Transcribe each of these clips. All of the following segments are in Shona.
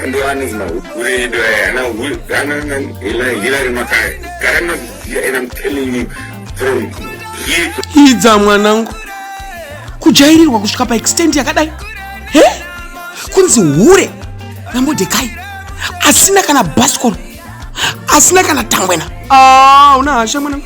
ndo anonzi mahukure edu aya ana hilari makaya gara maziziya and i'm telling you from here idza mwanangu kujairirwa kusvika paextend yakadai he kunzi hure ramodhekai asina kana baskol asina kana tangwena ah, una hasha mwanangu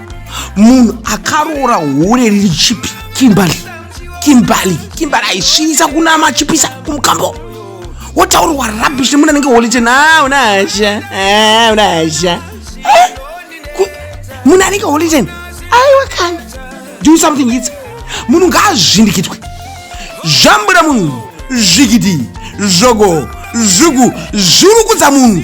munhu akaroora hure riri chipi kimbali kimbali kimbali aisvibisa kuna machipisa kumukambo wotaurwa rabish nemunhu anenge holite na unasha unasha munhu anenge holiten aiwa kani do something its munhu ngaazvindikitwe zvambura munhu zvikiti zvogo zvugu zvirukudza munhu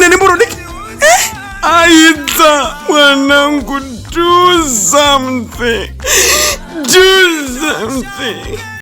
une nemboro diki eh? aita mwanangu do something do something